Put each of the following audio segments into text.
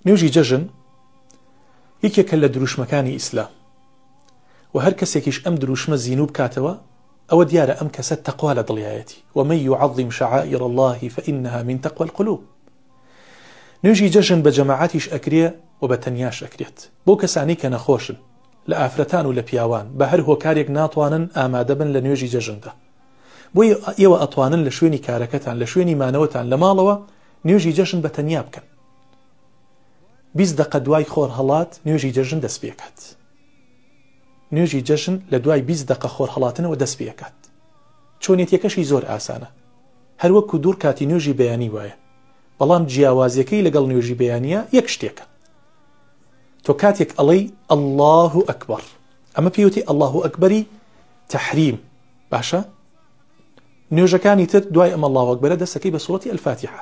نوێژی جەژن یەکێکە لە دروشمەکانی ئیسلام و هەر کەسێکیش ئەم دروشمە زینوو بکاتەوە ئەوە دیارە ئەم کەسە تەقوا لە دڵیایەتی ومە یعظیم شعائر الله فإنها من تقوى القلوب نوێژی جەژن بە جەماعاتیش ئەکرێ و بە تەنیاش ئەکرێت بۆ کەسانی کە نەخۆشن لە ئافرەتان و لە پیاوان بە هەر هۆکارێک ناتوانن ئامادەبن لە نوێژی جەژندا بۆی ئێوە ئەتوانن لە شوێنی کارەکەتان لە شوێنی مانەوەتان لە ماڵەوە نوێژی جەژن بە تەنیا بکەن بیست دەقە دوای خۆرهەڵات نوێژی جەژن دەست پێکات نوێژی جەژن لە دوای بیست دەقە خۆرهڵاتنەوە دەست پێکات چۆنێتیەکەشی زۆر ئاسانە هەروەکو دوور کاتی نوێژی بەیانی وایە بەڵام جیاوازیەکەی لەگەڵ نوێژی بەیانە یەک شتێکە تۆ کاتێک ئەڵەی ئەله و ئەکبەر ئەمە پێوتی ئەله و ئەکبەری تحریم باشە نوێژەکانی تر دوای ئەمە لاوەکبەرە دەستەکەی بە سوەتی ئەلفاتیحە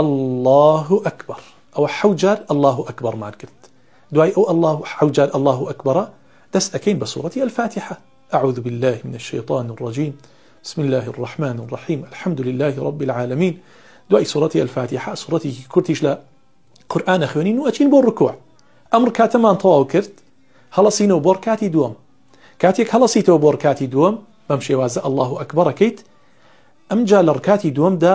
اللە اکبر ئەوە حەوت جار اللە اکبر مان کرد دوای ئەو اللە حەوت جار اللە اکبر دەست ئەکەین بە سورەتی الفاتحە اعوذ بالله من الشیطان الرجیم بسم الله الرحمن الرحیم الحمد لله رب العالمین دوای سورەتی الفاتحە سورەتێکی کورتیش لە قورآانە خوێنین و ئەچین بۆ ڕکوع ئەمر کاتەمان تەواو کرد هەڵسینەوە بۆڕ کاتی دووەم کاتێک هەڵسیتەوە بۆڕ کاتی دووەم بەم شێوازە ئەله و ئەکبەڕەکەیت ئەمجا لە ڕکاتی دووەمدا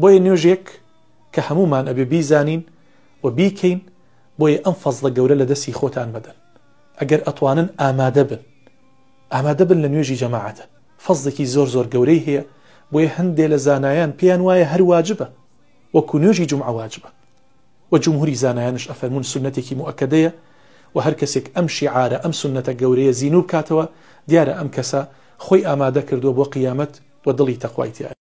بۆیە نوێژێک کە هەموومان ئەبێ بیزانین و بیکەین، بۆیە ئەم فەزڵە گەورە لە دەستی خۆتان مەدەن، ئەگەر ئەتوانن ئامادە بن، ئامادە بن لە نوێژی جەماعەتە، فەزڵێکی زۆر زۆر گەورەی هەیە، بۆیە هەندێ لە زانایان پێیان وایە هەر واجبە، وەکو نوێژی جومعە واجبە، وە جمهوری زانایانش ئەفەرموون سوننەتێکی موئەکەدەیە، وە هەر کەسێک ئەم شیعارە، ئەم سوننەتە گەورەیە زینوو بکاتەوە، دیارە ئەم کەسە خۆی ئامادە کردووە بۆ قیامەت و دڵی تەقوای تیایە.